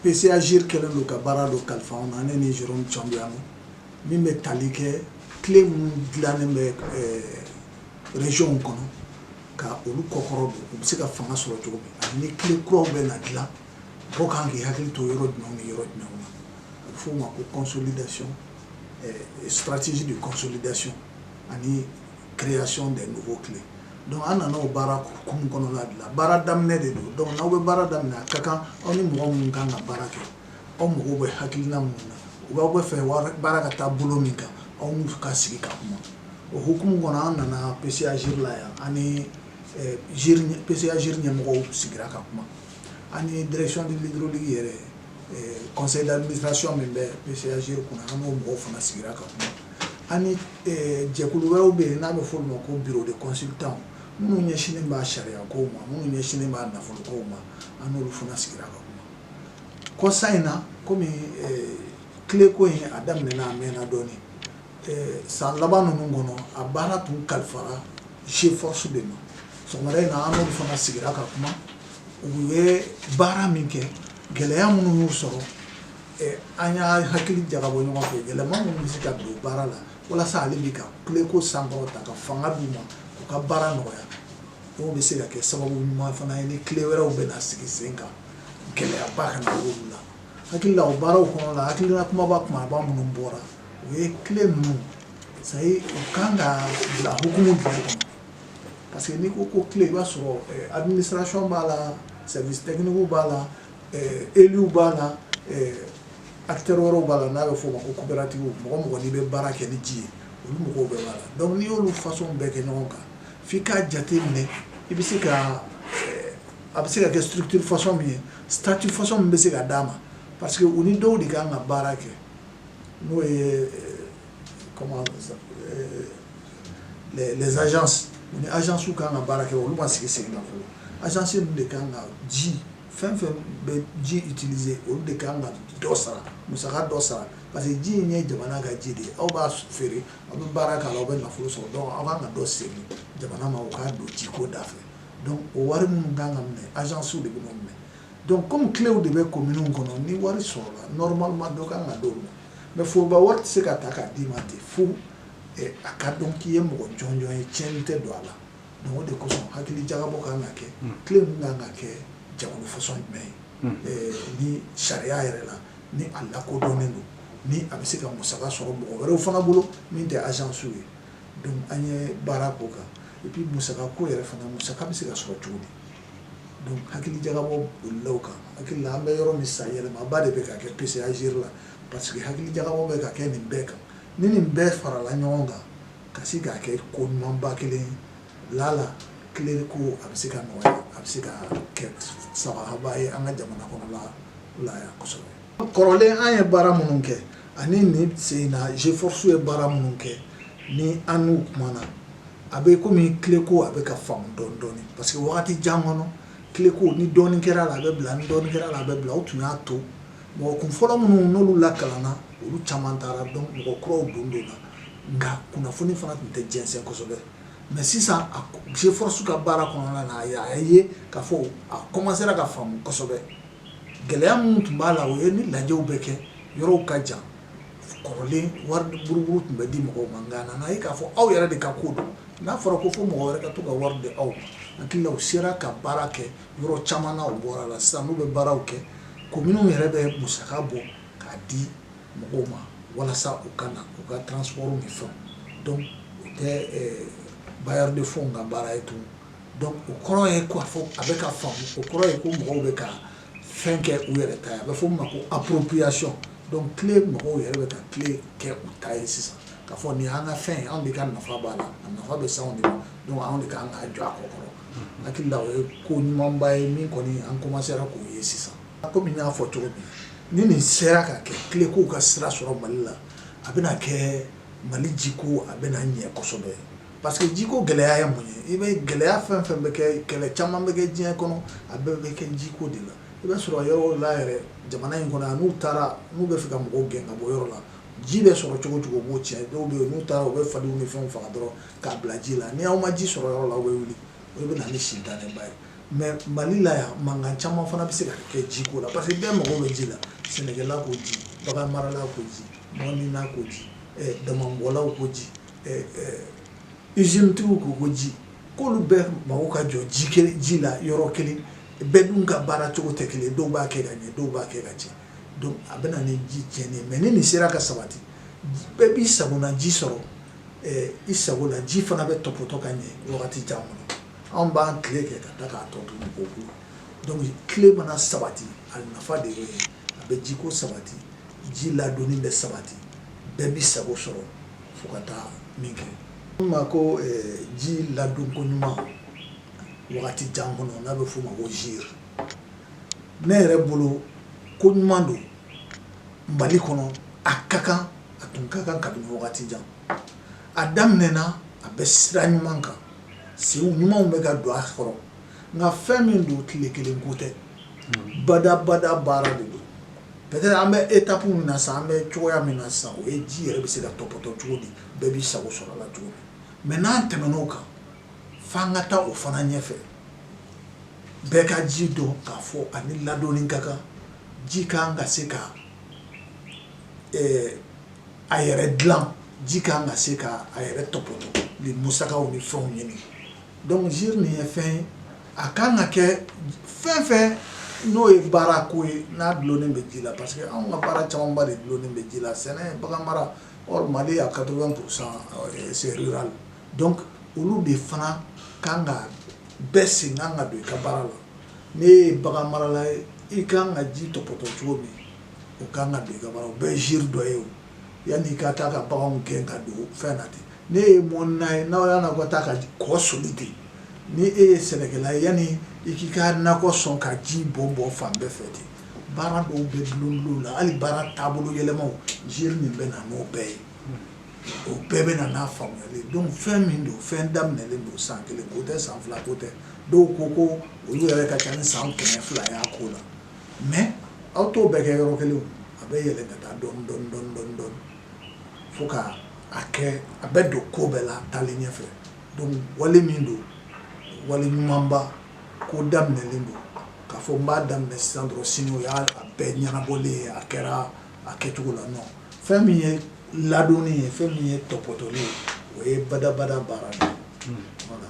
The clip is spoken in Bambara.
PCA-GIRE kɛlen don ka baara dɔ kalifa an na ne ni Jérôme Thiombiano min bɛ tali kɛ CLE minnu dilannen bɛ régionw kɔnɔ ka olu kɔkɔrɔ don u bɛ se ka fanga sɔrɔ cogo min ani ni CLE kuraw bɛ na dilan mɔgɔw ka kan k'i hakili to yɔrɔ jumɛnw ni yɔrɔ jumɛnw na a bɛ f'o ma ko consolidation stratégie de consolidation ani création des nouveaux CLE donc an nana o baara hukumu kɔnɔna de la baara daminɛ de don donc n'aw bɛ baara daminɛ a ka kan aw ni mɔgɔ minnu kan ka baara kɛ aw mago bɛ hakilina minnu na u b'aw b'a fɛ baara ka taa bolo min kan aw n'u ka sigi ka kuma o hukumu kɔnɔ an nana PCA-GIRE la yan an ni PCA-GIRE ɲɛmɔgɔw sigira ka kuma ani direction de l'hydraulique yɛrɛ conseil d'administration min bɛ PCA-GIRE kunna an n'o mɔgɔw fana sigira ka kuma ani jɛkulu wɛrɛw bɛ yen n'a bɛ fɔ olu ma ko bureau de consultants minnu ɲɛsinnen b'a sariyako ma minnu ɲɛsinnen b'a nafoloko ma an n'olu fana sigira ka kuma kɔsa in na kɔmi CLE ko in a daminɛna a mɛnna dɔɔnin San laban ninnu kɔnɔ a baara tun kalifara sifasiw de ma so in na an fana sigira ka kuma u ye baara min kɛ gɛlɛya minnu sɔrɔ an y'an hakili jagabɔ ɲɔgɔn fɛ gɛlɛya minnu bɛ se ka don baara la walasa ale bɛ ka CLE ko san ta ka fanga d'u ma u ka baara nɔgɔya o bɛ se ka kɛ sababu ɲuman fana ye ni CLE wɛrɛw bɛ na sigi sen kan gɛlɛyaba kana la hakili o baaraw kɔnɔ la hakilila kunbaba tuma minnu bɔra o ye CLE ninnu ça ye o kan ka bila hukumu jumɛn kɔnɔ parce que n'i ko ko CLE i b'a sɔrɔ eh, administration b'a la service technique b'a la eh, élu b'a la eh, acteur wɛrɛw b'a la n'a bɛ fɔ o ma ko coopérative mɔgɔ o mɔgɔ n'i bɛ baara kɛ ni ji ye olu mɔgɔw bɛɛ b'a la donc n'i y'olu façon bɛɛ kɛ ɲɔgɔn kan f'i k'a jateminɛ i bɛ se ka a bɛ se ka kɛ structure façon min ye statut façon min bɛ se ka d'a ma parce que u ni dɔw de kan ka baara kɛ n'o ye comment on appelle ça les agences u ni agence ka kan ka baara kɛ olu ma sigi sigi la fɔlɔ agence ninnu de ka kan ka ji fɛn o fɛn bɛ ji utiliser olu de ka kan ka dɔ sara musaka dɔ sara parce que ji in ye jamana ka ji de ye aw b'a feere aw bɛ baara k'a la aw bɛ nafolo sɔrɔ donc aw kan ka dɔ segin jamana ma o k'a don jiko dafɛ donc o wari minnu kan ka minɛ agence de bɛ n'o minɛ donc comme CLEw de bɛ kominiw kɔnɔ ni wari sɔrɔla normalement dɔ kan ka d'o ma mais foroba wari tɛ se ka ta k'a d'i ma ten fo eh, a ka dɔn k'i ye mɔgɔ jɔnjɔn ye tiɲɛni tɛ don a la donc o de kosɔn hakili jagabɔ kan ka kɛ CLE hmm. ninnu kan ka kɛ jɛkulu façon jumɛn ye hmm. eh, ni sariya yɛrɛ la ni a lakodɔnnen don ni a bɛ se ka musaka sɔrɔ mɔgɔ wɛrɛw fana bolo min tɛ agence ye donc an ye baara k'o kan et puis musaka ko yɛrɛ fana musaka bɛ se ka sɔrɔ cogo di donc hakili jagabɔ bolila o kan hakili la an bɛ yɔrɔ min san yɛlɛmaba de bɛ ka kɛ PCA-GIRE la parce que hakili jagabɔ bɛ ka kɛ nin bɛɛ kan ni nin bɛɛ farala ɲɔgɔn kan ka se k'a kɛ ko ɲumanba kelen ye lala CLE ko a bɛ se ka nɔgɔya a bɛ se ka kɛ sababuba ye an ka jamana kɔnɔla la yan kosɛbɛ kɔrɔlen an ye baara minnu kɛ ani nin sen in na G-FORCE ye baara minnu kɛ ni an n'u kumana a bɛ komi CLE ko a bɛ ka faamu dɔɔni dɔɔni parce que wagati jan kɔnɔ CLE ko ni dɔɔni kɛra la a bɛ bila ni dɔɔni kɛra la a bɛ bila u tun y'a to mɔgɔ kunfɔlɔ minnu n'olu lakalanna olu caman taara donc mɔgɔ kuraw don donna nka kunnafoni fana tun tɛ jɛnsɛn kosɛbɛ mais sisan a G-FORCE ka baara kɔnɔna na a ye k'a fɔ a commencera ka faamu kosɛbɛ gɛlɛya min tun b'a la o ye ni lajɛw bɛ kɛ yɔrɔw ka jan kɔrɔlen wari buruburu tun bɛ di mɔgɔw ma nka nana ye k'a fɔ aw yɛrɛ de ka ko don n'a fɔra ko fo mɔgɔ wɛrɛ ka to ka wari di aw ma hakili u sera ka baara kɛ yɔrɔ caman na u bɔra a la sisan n'u bɛ baaraw kɛ commune yɛrɛ bɛ musaka bɔ k'a di mɔgɔw ma walasa u ka na u ka transport ni fɛnw donc o tɛ bailleur de fonds ka baara ye tun Donc o kɔrɔ ye k'a fɔ a bɛ ka fa o kɔrɔ ye ko mɔgɔw bɛ ka fɛn kɛ u yɛrɛ ta a bɛ fɔ a ma ko appropriation donc CLE mɔgɔw yɛrɛ bɛ ka CLE kɛ u ta ye sisan k'a fɔ nin an ka fɛn anw de ka nafa b'a la a nafa bɛ sa de don anw de ka kan ka jɔ a kɔkɔrɔ hakili la o ye ko ɲumanba ye min kɔni an commencera k'o ye sisan a ko min y'a fɔ cogo min ni nin sera ka kɛ CLE ko ka sira sɔrɔ mali la a bɛna kɛ mali jiko a bɛ ɲɛ kosɛbɛ ye Parce que ji ko gɛlɛya ye mun ye i bɛ gɛlɛya fɛn o fɛn bɛ kɛ kɛlɛ caman bɛ kɛ diɲɛ kɔnɔ a bɛɛ bɛ kɛ jiko de la i bɛ sɔrɔ yɔrɔ la yɛrɛ jamana in kɔnɔ n'u taara n'u bɛ fɛ ka mɔgɔw gɛn ka bɔ yɔrɔ la ji bɛ sɔrɔ cogo o cogo u b'o cɛn dɔw bɛ yen n'u taara u bɛ fali ni fɛnw faga dɔrɔn k'a bila ji la ni' aw ma ji sɔrɔ yɔrɔ la aw bɛ wuli o bɛ na ni incident ba ye mais mali la yan mankan caman fana bɛ se ka kɛ jiko la parce que bɛɛ mago bɛ ji la sɛnɛla ko ji bagan marala ko ji mɔnnina ko ji damanbɔlaw ko ji izinitigiw ko ko ji k'olu bɛɛ mago ka jɔ ji kelen ji la yɔrɔ kelen bɛɛ dun ka baara cogo tɛ kelen dɔw b'a kɛ ka ɲɛ dɔw b'a kɛ ka cɛn a bɛ na ni ji cɛn ye mais ni nin sera ka sabati bɛɛ b'i sago na ji sɔrɔ i sago la ji fana bɛ topoto ka ɲɛ wagati caman kɔnɔ anw b'an tile kɛ ka da k'a tɔ to ko CLE mana sabati a nafa de ye a bɛ jiko sabati ji ladonni bɛ sabati bɛɛ b'i sago sɔrɔ fo ka taa min kɛ ma ko eh, ji ladonko ɲuman wagati jan kɔnɔ n'a bɛ f'o ma ko GIRE ne yɛrɛ bolo ko ɲuman don mali kɔnɔ a ka kan a tun ka kan kabini wagati jan a daminɛna a bɛ sira ɲuman kan senw ɲumanw bɛ ka don a kɔrɔ nka fɛn min don tile kelen ko tɛ badabada baara de don peut-être an bɛ étape min na sa an bɛ cogoya min na sa o ye ji yɛrɛ bɛ se ka tɔpɔtɔ cogo di bɛɛ b'i sago sɔrɔ a la cogo min n'an tɛmɛna o kan fo an ka taa o fana ɲɛfɛ bɛɛ ka ji dɔn k'a fɔ a ni ladonni ka kan ji ka kan ka se ka a yɛrɛ dilan ji ka kan ka se ka a yɛrɛ tɔpɔtɔ ni musakaw ni fɛnw ɲini Donc GIRE nin ye fɛn ye a ka kan ka kɛ fɛn o fɛn n'o ye baara ko ye n'a dulonnen bɛ ji la parce que anw ka baara camanba de dulonnen bɛ ji la sɛnɛ bagan mara Mali à quatre-vingts pour cent se la dɔn olu de fana ka kan ka bɛɛ sen ka kan ka don i ka baara la n'e ye bagan marala ye i ka kan ka ji tɔpɔtɔ cogo min o ka kan ka i ka bɛɛ ye ziiri dɔ ye o yanni i ka taa ka bagan gɛn ka don fɛn na ten n'e ye mɔnna ye n'aw y'a nakɔ ta ka kɔ soli ten ni e ye sɛnɛkɛla ye yanni i k'i ka nakɔ sɔn ka ji bɔn bɔn fan bɛɛ fɛ ten baara dɔw bɛ bulonbulon la hali baara taabolo yɛlɛmaw GIRE min bɛ na n'o bɛɛ ye o bɛɛ bɛ na n'a faamuyali donc fɛn min don fɛn daminɛlen don san kelen ko tɛ san fila ko tɛ dɔw ko ko olu yɛrɛ ka ca ni san kɛmɛ fila y'a ko la mais aw t'o bɛɛ kɛ yɔrɔ kelen a bɛ yɛlɛ ka taa dɔɔni dɔɔni dɔɔni dɔɔni fo ka a kɛ a bɛ don ko bɛɛ la taalen ɲɛfɛ donc wale min don wale ɲumanba ko daminɛlen don k'a fɔ n b'a daminɛ sisan dɔrɔn sini o y'a bɛɛ ɲɛnabɔlen ye a kɛra a kɛcogo la non fɛn min ye ladonni ye fɛn min ye tɔpɔtɔli ye o ye badabada baara de ye voilà